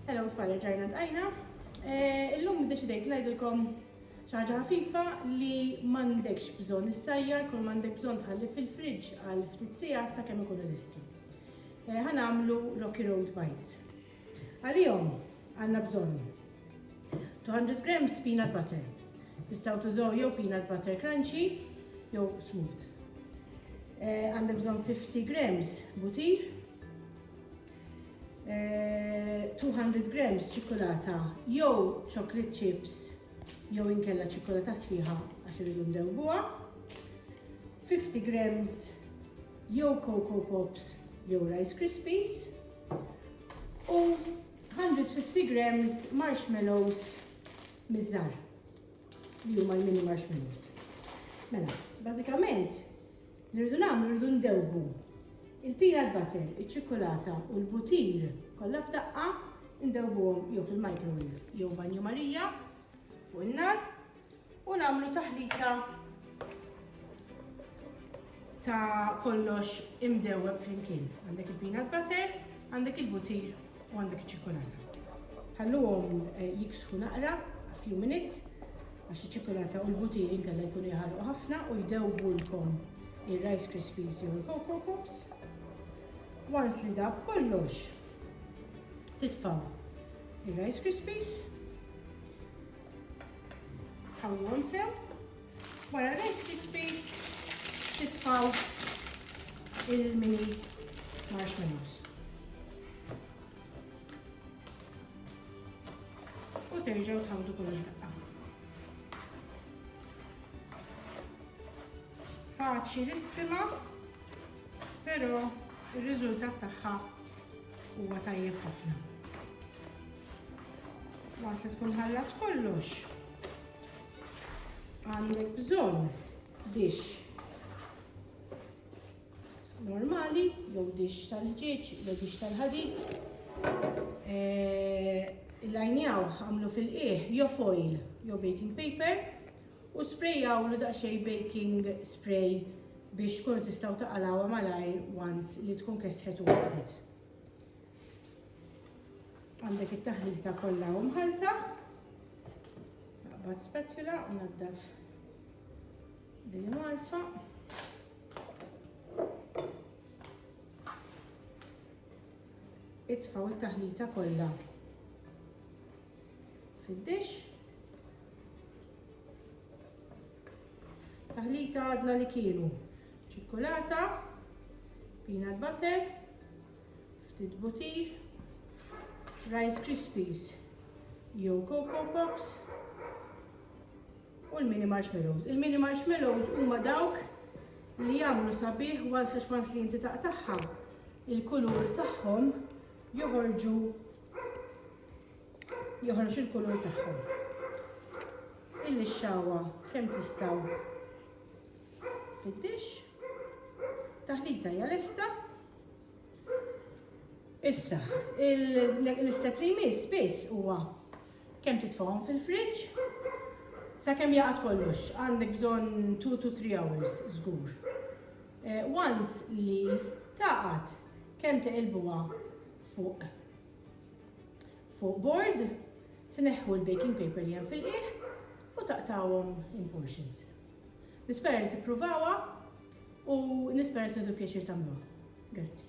Hello tfal ġajna tqajna. Eh, illum deċidejt ngħidilkom ċaġa ħafifa li m'għandekx bżonn issajjar kull m'għandek bżonn tħalli fil-friġġ għal ftit sigħat sakemm ikunu lesti. Eh, ħanamlu Rocky Road Bites. Għalihom għandna bżonn 200 grams peanut butter. Tistgħu tużaw jew peanut butter crunchy jew smooth. Eh, għandna bżonn 50 grams butir, 200 eh, grams ċikulata jew chocolate chips jew inkella ċikolata sħiħa għax irridu ndewbuha. 50 grams jew Cocoa Pops jew Rice Krispies. u 150 grams marshmallows mizzar li huma l-mini marshmallows. Mela, bażikament li rridu nagħmlu rridu ndewbu il-peanut butter, iċ-ċikolata u l-butir kollha f'daqqa ndewbuhom jew fil-microwave jew banju Marija fuq in-nar U nagħmlu taħlita ta' kollox imdewweb flimkien. Għandek il-peanut butter, għandek il-butir u għandek iċ-ċikolata. Ħalluhom eh, jiksħu naqra a few minutes għax iċ-ċikolata u l-butir inkella jkunu jħalqu ħafna u jdewwulkom ir-Rice Krispies jew il-Coco Pops. Once li dab kollox, titfaw ir-Rice Krispies Ħawwhom sew. Wara r-rice krispies titfaw il-mini marshmallows. U terġgħu tħawdu kollox daqqa. Faċilissima, però ir-riżultat tagħha Huwa tajjeb ħafna. Waqt li tkun ħallat kollox, għandek bżonn dix normali, jew dix tal-ħġieġ, jew dix tal-ħadid. Eh, il-lajnjaw għamlu fil-qieħ jew foil jew baking paper U sprejawlu daqsxejn baking spray biex tkunu tistgħu taqalgħuha malajr once li tkun kesħet u għadet. Għandek it-taħlita kollha u mħalta. Naqbad spatula u naddaf din marfa. itfaw it-taħlita kollha fid-dix. Taħlita għadna li kienu ċikkulata, peanut butter, ftit butir, rice krispies jew cocoa pops u l-mini marshmallows. Il-mini marshmallows huma dawk li jagħmlu sabiħ once għax once li inti taqtagħha il-kulur tagħhom joħorġu joħroġ il-kulur tagħhom. Il-lixxawa kemm tistgħu fid-dix. Taħlita hija lesta. Issa, l-istep li jmiss biss huwa kemm titfgħuhom fil-fridġ sakemm jaqgħad kollox, għandek bżonn 2 to 3 hours żgur. Eh, once li taqgħad kemm teqilbuha fuq fuq board, tneħħu l-baking paper li hemm fil-qiegħ u taqtawhom in portions. Nispera li tippruvawa u nispera li tudu pjaċir tagħmluha. Grazzi.